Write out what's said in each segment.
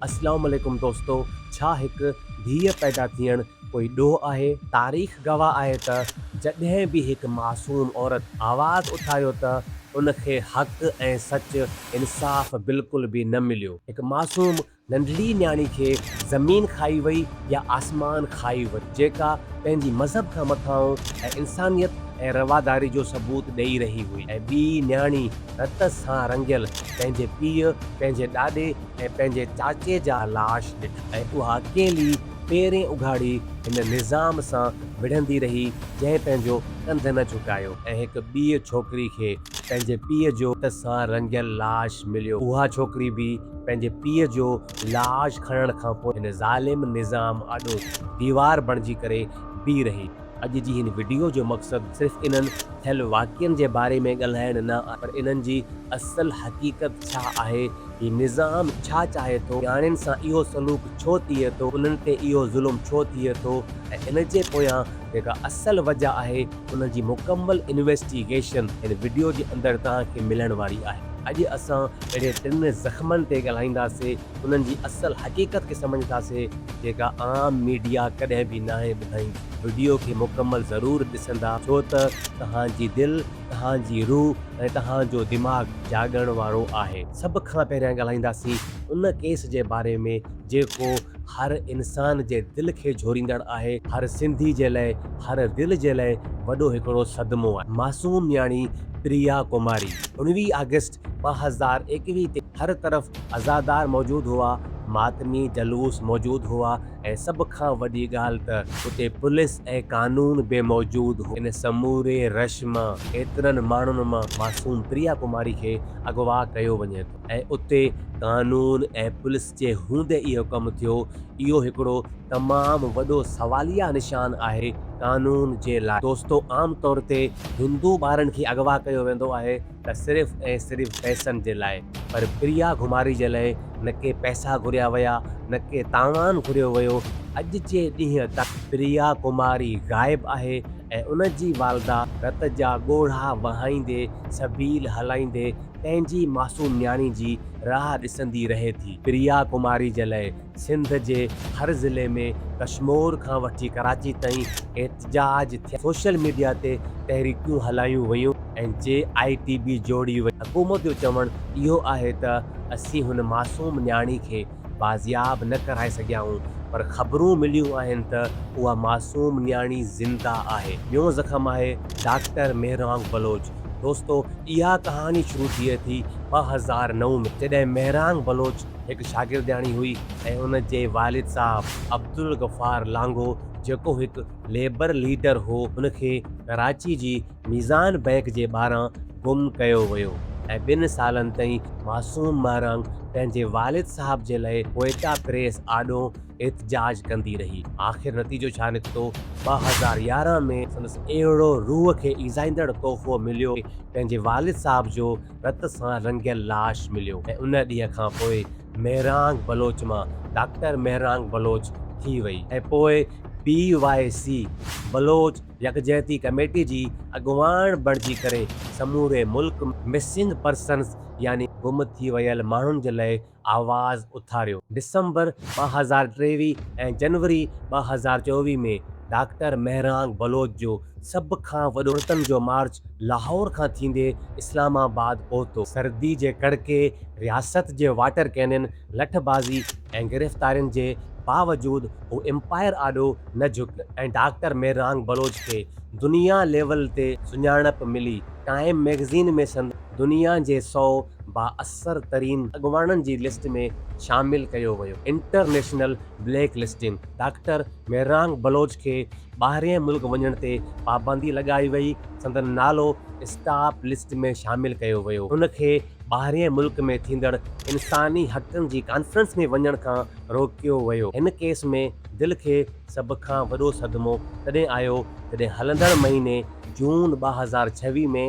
اسلام عليڪم دوستو ڇا هڪ ڌيء پيدا ٿيڻ ڪوئي ڏوهه آهي؟ تاريخ گواهه آهي ته جڏهن به هڪ معصوم عورت آواز اٿايو ته ان کي حق ۽ سچ، انصاف، بلڪل به نه مليو. هڪ معصوم ننڍڙي نياڻي کي زمين کائي وئي يا آسمان کائي وئي جيڪا پنهنجي مذهب کان مٿانهون ۽ انسانيت ۽ رواداري جو ثبوت ڏئي رهي هئي ۽ ٻي نياڻي رت سان رڱيل پنهنجي پيء، پنهنجي ڏاڏي ۽ پنهنجي چاچي جا لاش ڏٺا. ۽ اها ڪيلي پيرين اگهاڙي هن نظام سان وڙهندي رهي، جنهن پنهنجو ڪنڌ نه جهڪايو. ۽ هڪ ٻيء ڇوڪري کي پنهنجي پيء جو رت سان رڱيل لاش مليو. اها ڇوڪري به پنهنجي پيء جو لاش کڻڻ کان پوء هن ظالم نظام آڏو ديوار بڻجي ڪري بيهي رهي. اڄ جي هن وڊيو جو مقصد صرف انهن ٿيل واقعن جي باري ۾ ڳالهائڻ نه آهي پر انهن جي اصل حقيقت ڇا آهي، هي نظام ڇا چاهي ٿو، نياڻين سان اهو سلوڪ ڇو ٿئي ٿو، انهن تي اهو ظلم ڇو ٿئي ٿو ۽ ان جي پويان جيڪا اصل وجه آهي ان جي مڪمل انويسٽيگيشن هن وڊيو جي اندر توهان کي ملڻ واري آهي. اڄ اسان اهڙي ٽن زخمن تي ڳالهائينداسين. انهن جي اصل حقيقت کي سمجهنداسي جيڪا عام ميڊيا ڪڏهن به ناهي ٻڌائين. وڊيو کي مڪمل ضرور ڏسندا ڇو ته توهان جي دل، توهان جي روح ۽ توهان جو دماغ جاڳڻ وارو آهي. سڀ کان پهريان ڳالهائينداسين ان ڪيس جي باري ۾ جيڪو هر انسان جي دل کي جهوريندڙ آهي. هر سنڌي جي لئه، هر دل جي لئه وڏو هڪڙو صدمو آهي. معصوم نياڻي پريا ڪماري اڻويهه آگسٽ ٻه هزار ايڪويهه تي هر طرف عزادار موجود هئا، ماتمي جلوس موجود هئا ۽ سڀ کان وڏي ڳالهه ته اتي پوليس ۽ قانون به موجود هو. ان سموري رش مان ايترن ماڻهن مان معصوم پريا ڪماري کي اغوا ڪيو وڃي ٿو ۽ اتي قانون ۽ پوليس جي هوندي اهو ڪم ٿيو، اهو هڪڙو تمام وڏو سواليه نشان آهي قانون جي لاء. دوستو عام طور تي هندو ٻارن کي اغوا ڪيو ويندو آهي. ته صرف ۽ صرف پئسن جي لاء. پر پريا گهماري جي لئه نه ڪي پئسا گهريا ويا نه ڪي تاوان گهريو ويو. اڄ جي ڏينهن تائين پريا ڪماري غائب آهي ۽ ان جي والده. رت جا ڳوڙها وهائيندي سبيل هلائيندي پنهنجي معصوم نياڻي جي راهه ڏسندي رهي ٿي. پريا ڪماري جي لئه سنڌ جي هر ضلعي ۾ ڪشمور کان وٺي ڪراچي تائين احتجاج ٿيا، سوشل ميڊيا تي تحريڪون هلايون ويون ۽ جي آء ٽي بي جوڙي وئي، حڪومت جو چوڻ اهو آهي ته اسين هن معصوم نياڻي کي بازياب نه ڪرائي سگهيائون پر خبرون مليون آهن ته اها معصوم نياڻي زنده آهي. ٻيون زخم آهي ڊاڪٽر مهرانگ بلوچ دوستو اها ڪهاڻي شروع ٿئي ٿي ٻه هزار نو ۾ جڏهن مهرانگ بلوچ هڪ شاگردياڻي هئي ۽ ان جي والد صاحب عبدالغفار لانگو جيڪو هڪ ليبر ليڊر هو ان کي ڪراچي جي ميزان بئنڪ جي ٻاهران گم ڪيو ويو ۽ ٻن سالن تائين معصوم مهرنگ پنهنجي والد صاحب جي لئه ڪوئيٽا پريس آڏو احتجاج ڪندي رهي آخر نتيجو ڇا نڪتو ٻه هزار يارهن ۾ سندس اهڙو روح کي ايذائيندڙ تحفو مليو پنهنجي والد صاحب جو رت سان رڱيل لاش مليو ۽ ان ڏينهن کان پوء مهرانگ بلوچ مان ڊاڪٽر مهرانگ بلوچ ٿي وئي ۽ پوء بي واء سي، بلوچ يڪجهتي ڪميٽي، جي اڳواڻ بڻجي ڪري سموري ملڪ ۾ مسنگ پرسنز يعني گم ٿي ويل ماڻهن جي لئه آواز اٿاريو. ڊسمبر ٻه هزار ٽيويهه ۽ جنوري ٻه هزار چوويهه ۾ ڊاڪٽر مهرانگ بلوچ جو سڀ کان وڏو عورتن جو مارچ لاهور کان ٿيندي اسلام آباد پهتو. سردي جي ڪڙڪي، رياست جي واٽر ڪينن، لٺ بازي ۽ گرفتارين جي باوجود هو امپائر آڏو نه جهڪ ۽ ڊاڪٽر مهرانگ بلوچ کي دنيا ليول تي سڃاڻپ ملي. ٽائيم ميگزين ۾ سندس. دنيا جي سؤ بااثر ترين اڳواڻن جي لسٽ ۾ شامل ڪيو ويو، international black listing, doctor Mahrang Baloch کي ٻاهرئين ملڪ وڃڻ تي پابندي لڳائي وئي، سندن نالو اسٽاپ لسٽ ۾ شامل ڪيو ويو، هن کي ٻاهرئين ملڪ ۾ ٿيندڙ انساني حقن جي ڪانفرنس ۾ وڃڻ کان روڪيو ويو، هن ڪيس ۾ دل کي. سڀ کان وڏو صدمو تڏهن آيو جڏهن هلندڙ مهيني جون ٻه هزار ڇويهه ۾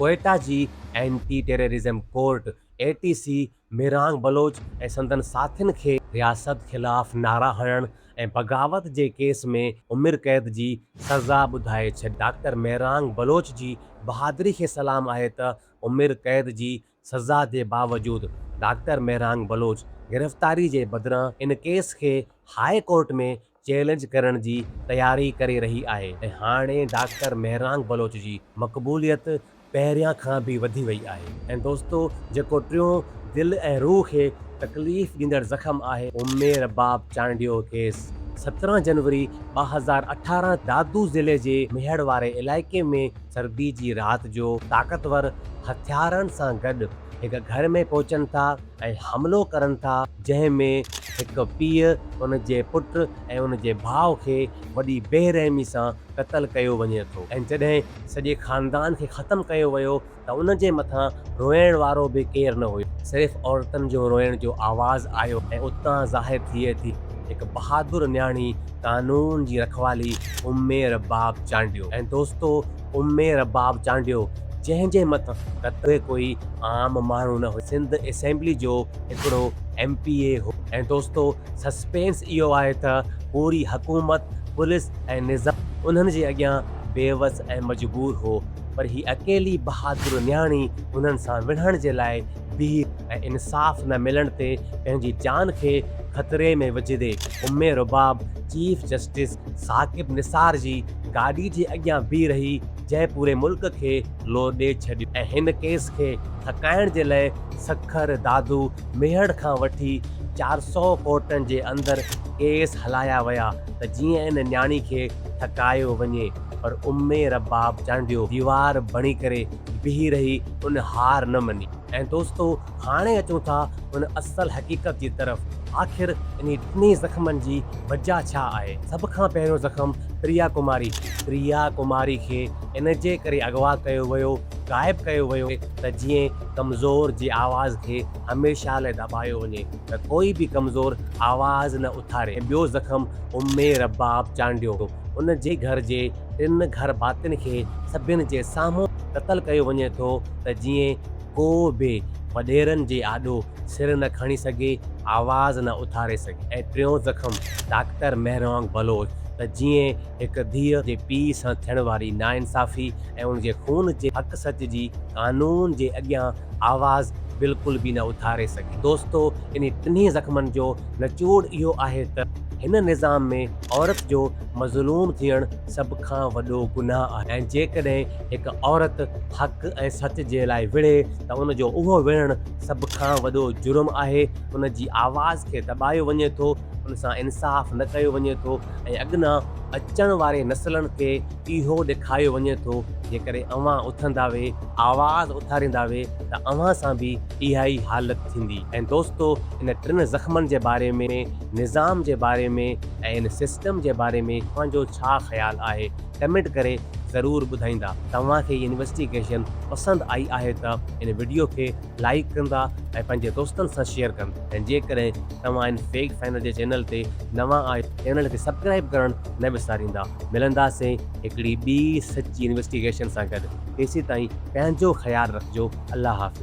ڪوئيٽا جي anti terrorism court, A T C, Mirang Baloch ۽ سندن ساٿين کي رياست خلاف نعرا هڻڻ ۽ بغاوت جي ڪيس ۾ عمر قيد جي سزا ٻڌائي ڇڏي. ڊاڪٽر ميرانگ بلوچ جي بهادري کي سلام آهي ته عمر قيد جي سزا جي باوجود ڊاڪٽر مهرانگ بلوچ گرفتاري جي بدران ان ڪيس کي هاء ڪورٽ ۾ چئلينج ڪرڻ جي تياري ڪري رهي آهي ۽ هاڻي ڊاڪٽر مهرانگ بلوچ جي مقبوليت پهريان کان به وڌي وئي آهي ۽ دوستو جيڪو ٽيون دل ۽ روح کي تڪليف ڏيندڙ زخم آهي امي رباب چانڊيو ڪيس سترهن جنوري ٻه هزار اٺارهن دادو ضلعي جي ميهڙ واري علائقي ۾ سردي جي رات جو طاقتور هٿيارن سان گڏ هڪ گهر ۾ پهچن ٿا ۽ حملو ڪرن ٿا جنهن ۾ هڪ پيء ان جي پٽ ۽ ان جي ڀاء کي وڏي بي رحمي سان قتل ڪيو وڃي ٿو ۽ جڏهن سڄي خاندان کي ختم ڪيو ويو ته ان جي مٿان روئڻ وارو به ڪير نه هيو صرف عورتن جو روئڻ جو آواز آيو ۽ اتان ظاهر ٿئي ٿي هڪ بهادر نياڻي قانون جي رکوالي امي رباب چانڊيو ۽ دوستو امي رباب چانڊيو جنهن جي مٿ قطعي ڪوئي عام ماڻهو نه هيو سنڌ اسيمبلي جو هڪڙو ايم پي اي هو ۽ دوستو سسپينس اهو آهي ته پوري حڪومت پوليس ۽ نظام انهن جي اڳيان بيوس ۽ مجبور هو پر هي اڪيلي بهادر نياڻي انهن سان وڙهڻ جي لاء بيهي ۽ انصاف نه ملڻ تي پنهنجي جان کي خطري ۾ وجهندي ام رباب چيف جسٽس ثاقب نثار جي گاڏي جي اڳيان بيهي رهي جنهن پوري ملڪ کي لو ڏئي ڇڏيو ۽ هن ڪيس کي ٿڪائڻ جي لئي سکر، دادو، ميهڙ کان وٺي چار سؤ ڪورٽن جي اندر ڪيس هلايا ويا ته جيئن ان نياڻي کي ٿڪايو وڃي پر ام رباب چانڊيو ديوار بڻي ڪري بيهي رهي ان هار نه مڃي. ۽ دوستو هاڻي اچون ٿا ان اصل حقيقت جي طرف آخر انهي ٽنهي زخمن جي وجه ڇا آهي؟ سڀ کان پهريون زخم پريا ڪماري کي. پريا ڪماري کي ان جي ڪري اغوا ڪيو ويو، غائب ڪيو ويو ته جيئن ڪمزور جي آواز کي هميشه لاء دٻايو وڃي ته ڪوئي به ڪمزور آواز نه اٿاري ۽ ٻيو زخم امي رباب چانڊيو ان جي گهر جي ٽن گهر ڀاتين کي سڀن جي سامهون قتل ڪيو وڃي ٿو ته جيئن ڪو به وڏيرن جي آڏو سر نه کڻي سگهي، آواز نه اٿاري سگهي ۽ ٽيون زخم ڊاڪٽر مهروانگ بلوچ ته جيئن هڪ ڌيء جي پيء سان ٿيڻ واري ناانصافي ۽ ان جي خون جي حق سچ جي قانون جي اڳيان آواز بلڪل به نه اٿاري سگهي. دوستو انهي ٽنهي زخمن جو نچوڙ اهو آهي ته هن نظام ۾ عورت جو مظلوم ٿيڻ سڀ کان وڏو گناهه آهي ۽ جيڪڏهن هڪ عورت حق ۽ سچ جي لاء وڙهي ته ان جو اهو وڙهڻ سڀ کان وڏو جرم آهي، ان جي آواز کي دٻايو وڃي ٿو، ان سان انصاف نه ڪيو وڃي ٿو ۽ اڳنا اچڻ واري نسلن کي اهو ڏيکاريو وڃي ٿو جيڪڏهن اوهان اٿنداوي، آواز اٿارينداوي ته اوهان سان به اهائي حالت ٿيندي ۽ دوستو ان ٽن زخمن جي باري ۾. نظام جي باري ۾ ۽ ان سسٽم جي باري ۾ توهان جو ڇا خيال آهي ڪمينٽ ڪري ضرور ٻڌائيندا توهان کي هي انويسٽيگيشن پسند آئي آهي ته ان وڊيو کي لائيڪ ڪندا ۽ پنهنجي دوستن سان شيئر ڪن ۽ جيڪڏهن توهان ان فيڪٽ فائنڊر جي چينل تي نوان آهيو ته چينل کي سبڪرائيب ڪرڻ نه وساريندا ملنداسين هڪڙي ٻي سچي انويسٽيگيشن سان گڏ تيسيتائين پنهنجو خيال رکجو الله حافظ.